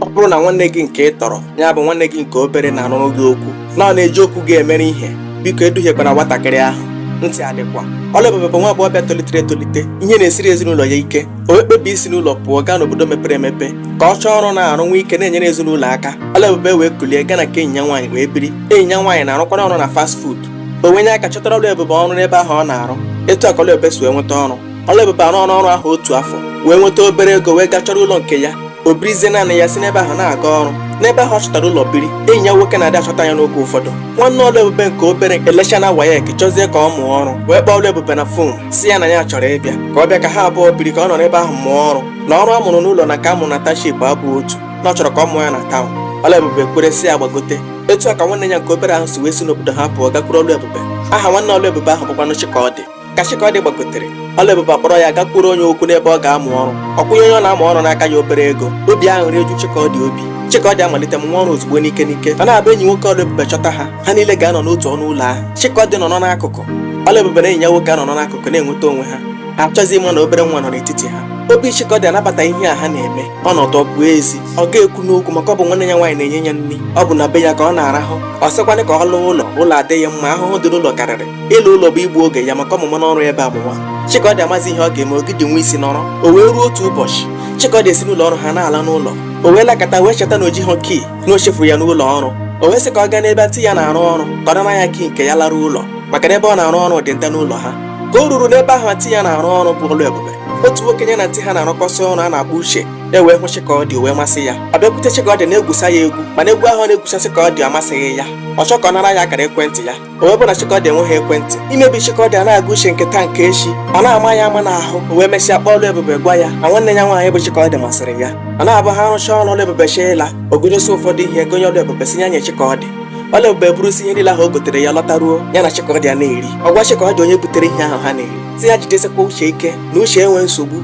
ọ bụrụ na nwanne gị nke ị tọrọ ya bụ nwanne gị nke obere na-anụrụ gị okwu na ọ na-eji okwu gị emere ihe biko eduhiekwana nwatakịrị ahụ ntị adịkwa Ọlụebube bụ nwa agbọghọbịa tolitere etolite ihe na-esiri ezinụlọ ya ike o wee kpebie isi n'ụlọ pụọ gaa n'obodo mepere emepe ka ọ chọọ ọrụ na-arụ nwee ike na-enyere ezinụlọ aka Ọlụebube wee kulie gaa na nke enyi ya nwaanyị wee biri enyi ya nwaanyị na-arụkwanụ ọrụ na fast food o wee nye aka chọtara Ọlụebube ọrụ n'ebe ahụ ọ na-arụ etu a ka Ọlụebube si wee nweta ọrụ Ọlụebube arụ ọrụ ọrụ ahụ otu afọ wee nweta obere ego wee gaa chọrọ ụlọ nke ya o birizie naanị ya si n'ebe ahụ na-aga ọrụ n'ebe ahụ ọ chọtara ụlọ biri enyi ya nwoke na-adị achọta ya n'oge ụfọdụ nwanne Ọlụebube nke obere elechana WAEC chọzie ka ọ mụọ ọrụ wee kpọọ Ọlụebube na phone sị ya na ya chọrọ ịbịa ka ọ bịa ka ha abụọ biri ka ọ nọ n'ebe ahụ mụọ ọrụ na ọrụ a mụrụ n'ụlọ na nke a mụrụ na township abụ otu na ọ chọrọ ka ọ mụọ ya na town Ọlụebube kwere sị ya gbagote etu a ka nwanne ya nke obere ahụ si wee si n'obodo ha pụọ gakwuru Ọlụebube aha nwanne Ọlụebube ahụ bụkwanụ Chikaọdị ka Chikaọdị gbagotere Ọlụebube akpọrọ ya gakwuru onye okwu n'ebe ọ ga-amụ ọrụ ọ kwụnye onye ọ na-amụ ọrụ n'aka ya obere ego obi aṅụrị eju Chikaọdị obi Chikaọdị amalite mụwa ọrụ ozugbo n'ike n'ike ọ na-abụ enyi nwoke Ọlụebube chọta ha ha niile ga-anọ n'otu ọnụ ụlọ ahụ Chikaọdị nọrọ n'akụkụ Ọlụebube na enyi ya nwoke anọrọ n'akụkụ na-enweta onwe ha achọzi ịma na obere nwa nọ n'etiti ha obi Chikaọdị anabata ihe a ha na-eme ọnọdụ bụ ezi ọ ga-ekwu n'okwu maka ọ bụ nwanne ya nwaanyị na-enye ya nri ọ bụ na be ya ka ọ na-arahụ ọ sịkwanụ ka ọ laa ụlọ ụlọ adịghị mma ahụhụ dị n'ụlọ karịrị ịla ụlọ bụ igbu oge ya maka ọ mụwana ọrụ ebe a amụwa Chikaọdị amazi ihe ọ ga-eme ogidi nwa isi nọrọ o wee ruo otu ụbọchị Chikaọdị esi n'ụlọ ọrụ ha na-ala n'ụlọ o wee lakata wee cheta na o jighị key na o chefuru ya n'ụlọ ọrụ o wee sị ka ọ gaa n'ebe aunty ya na-arụ ọrụ ka ọ nara ya key nke ya lara ụlọ maka na ebe ọ na-arụ ọrụ dị nta n'ụlọ ha ka o ruru n'ebe ahụ aunty ya na-arụ ọrụ bụ Ọlụebube otu nwoke ya na aunty ha na-arụkọsị ọrụ a na-akpọ Uche ewee hụ Chikaọdị o wee masị ya ọ bịakwute Chikaọdị na-egwusa ya egwu mana egwu ahụ na-egwusa Chikaọdị amasịghị ya ọ chọọ ka ọ nara ya akara ekwentị ya o wee bụ na Chikaọdị enweghị ekwentị imebi Chikaọdị a na-agụ Uche nke taa nke echi ọ na-ama ya ama n'ahụ o wee mesịa kpọọ Ọlụebube gwa ya na nwanne ya nwaanyị bụ Chikaọdị masịrị ya ọ na-abụ ha rụchaa ọrụ Ọlụebube chọọ ịla o gotesi ụfọdụ ihe gonye Ọlụebube sị ya nye Chikaọdị Ọlụebube burusi ihe niile ahụ o gotere ya lọtaruo ya na Chikaọdị a na-eri ọ gwa Chikaọdị onye butere ihe ahụ ha na-eri sị ya jidesikwa Uche ike na Uche enwe nsogbu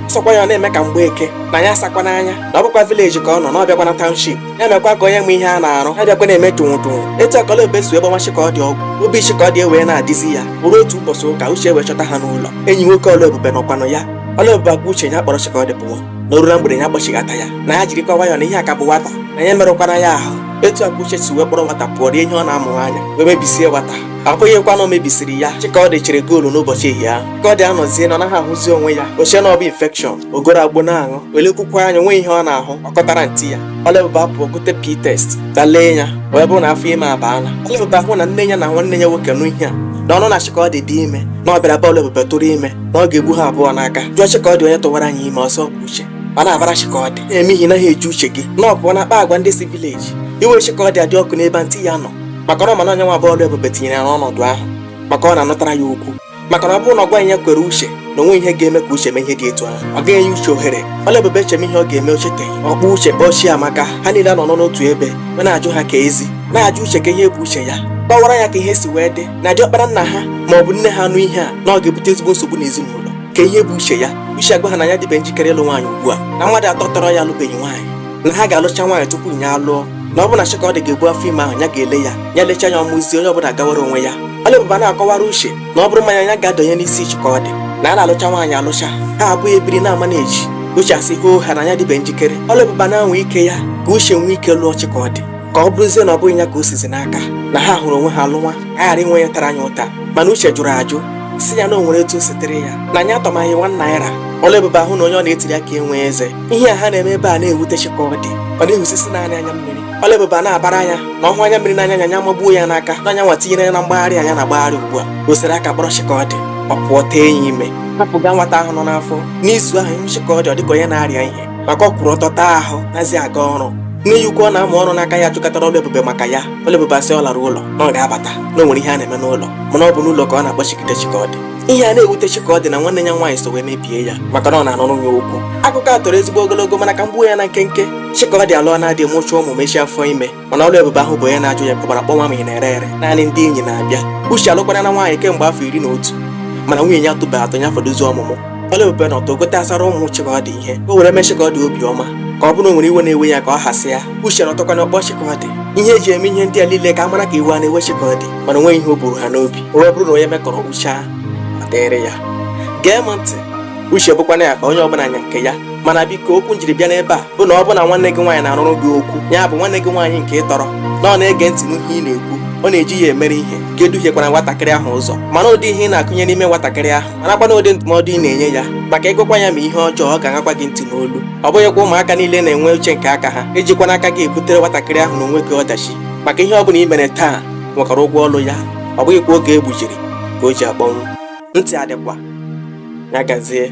sọkwa ya ọ na-eme ka mgbeke na ya asakwa n'anya na ọ bụkwa village ka ọ nọ na ọ bịakwana township ya mekwa ka onye ma ihe a na-arụ ya bịakwa na-eme tụnwụ tụnwụ etu a ka Ọlụebube si wee gbawa Chikaọdị ọgwụ obi Chikaọdị ewee na-adịzi ya o ruo otu ụbọchị ụka Uche wee chọta ha n'ụlọ enyi nwoke Ọlụebube nọkwanụ ya Ọlụebube agwa Uche ya kpọrọ Chikaọdị pụọ na o ruo na mgbede ya kpọchighata ya na ya jirikwa nwayọọ na ihe a ka bụ nwata na ya merụkwana ya ahụ etu a ka Uche si wee kpọrọ nwata pụọ rie ihe ọ na-amụ anya wee mebisie nwata ọ bụghịkwa na o mebisiri ya Chikaọdị chere goal n'ụbọchị ehihie ahụ Chikaọdị anọzie na ọ naghị ahụzi onwe ya o chee na ọ bụ infection o goro agbo na-aṅụ o lekwukwa anya nwee ihe ọ na-ahụ ọ kọtara antị ya ọlaebube apụọ gote p test gaa lee ya wee bụrụ na afọ ime abaala ọlaebube ahụ na nne ya na nwanne ya nwoke nụ ihe a na ọ nụ na chikaọdị dị ime na ọ bịara be ọlaebube tụrụ ime na ọ ga-egbu ha abụọ n'aka jụọ chikaọdị onye tụwara nya ime ọ sị ọ bụ uche ọ na-abara chikaọdị na-eme ihe naghị eji uche gị na ọ pụọ na-akpa agwa ndị si village iwe chikaọdị adị ọkụ n'ebe antị ya nọ maka na ọ ma na ọ nya nwa bụ ọlaebube tinyere ya n'ọnọdụ ahụ maka ọ na-anụtara ya okwu maka na ọ bụrụ na ọ gwaghị ya kwere uche na o nweghị ihe ga-eme ka uche mee ihe dị etu ahụ ọ gaghị enye uche ohere ọlaebube echeme ihe ọ ga-eme o cheteghị ọ kpọọ uche kpọọ chiamaka ha niile anọ n'otu ebe ma na-ajụ ha keezi na-ajụ uche kee ihe bụ uche ya kọwara ya ka ihe si wee dị na diọkpara nna ha ma ọ bụ nne ha anụ ihe a na ọ ga-ebute ezigbo nsogbu n'ezinụlọ kee ihe bụ uche ya uche agwa ha na ya adịbe njikere ịlụ nwaanyị ugbu a na mmadụ atọ tọrọ ya alụbeghị nwaanyị na ha ga-alụcha nwaanyị tupu ya alụọ na ọ bụ na Chikaọdị ga-ebu afọ ime ahụ ya ga-ele ya ya lechaa ya ọ mụzie onye ọbụla agawara onwe ya Ọlaebube na-akọwara uche na ọ bụrụ mmanya ya ga-adọnye n'isi Chikaọdị na a na-alụcha nwaanyị alụcha ha abụọ ebiri na-amanage uche asị hoohaa na ya adịbe njikere Ọlaebube na-anwa ike ya ka uche nwee ike lụọ Chikaọdị ka ọ bụrụzie na ọ bụghị ya ka o sizi n'aka na ha hụrụ onwe ha lụwa a ghara inwe onye tara nya ụta mana uche jụrụ ajụ sị ya na o nwere etu o sitere ya na nya atọmaghị one naira Ọlaebube ahụ na onye ọ na-etiri akị enwe eze ihe a ha na-eme ebe a na-ewute chikaọdị ọ na-ehusisi naanị anya mmiri ọlaebube ana-abara nya na ọ hụ anya mmiri n'anya nya nya amagbuo ya n'aka na nya nwa tinyere ya na mgbagharị nya na-agbagharị ugbu a o sere aka kpọrọ chikaọdị ọ pụọ tee nya ime hapụga nwata ahụ nọ n'afọ n'izu ahụ ị hụ chikaọdị ọ dịka onye na-arịa ihe maka ọ kwụrụ ọtọ taa ahụ anazi aga ọrụ nne ya ukwu ọ na-amụ ọrụ n'aka ya jụkatara ọlaebube maka ya ọlaebube asị ọ lara ụlọ na ọ ga-abata na o nwere ihe a na-eme n'ụlọ mana ọ bụ n'ụlọ ka ọ na-akpọchigide chikaọdị ihe a na-ewute chikaọdị na nwanne ya nwaanyị so wee mebie ya maka na ọ na-anụrụ nya okwu akụkọ a toro ezigbo ogologo mana ka m gbuo ya na nkenke chikaọdị alụọna di mụchaa ụmụ mechie afọ ime mana ọlaebube ahụbe onye na-ajụ ya kpọgbara kpọnwa ma ị na-ere ere naanị ndị enyi na-abịa uche alụkwana nwaanyị kemgbe afọ iri na otu mana nwunye ya atụbe atụ ya fọdụzi ọmụmụ ọlaebube na ọtọ gotasara ụmụ chikaọdị ihe o were mee chikaọdị obiọma ka ọ bụrụ o nwere iwe na-ewe ya ka ọ hasị ya uche na ọtọkwana kpọọ chikaọdị ihe e ji eme ihe ndị a niile ka a mara ka iwe a na-ewe chikaọdị mana o nweghị ihe o buru ha n'obi o wee bụrụ na onye mekọrọ uchu ọ dịrị ya gee m ntị uche bụkwana akpa onye ọbụla nya nke ya mana biko okwu m jiri bịa n'ebe a bụ na ọ bụ na nwanne gị nwaanyị na-anụrụ gị okwu ya bụ nwanne gị nwaanyị nke ị tọrọ na ọ na-ege ntị n'ihe ị na-ekwu ọ na-eji ya emere ihe gị eduhiekwana nwatakịrị ahụ ụzọ mara ụdị ihe ị na-akụnye n'ime nwatakịrị ahụ marakwana ụdị ndụmọdụ ị na-enye ya maka ị gwakwa ya ma ihe ọjọọ ọ ga-aṅakwa gị ntị n'olu ọ bụghịkwa ụmụaka niile na-enwe uche nke aka ha ejikwana aka gị ebutere nwatakịrị ahụ na onwe gị ọdachi maka ihe ọ bụla i mere taa nwekwara ụgwọ ọlụ ya ọ bụghịkwa oge e gbujiri ka o ji akpọnwụ ntị adịkwa ya gazie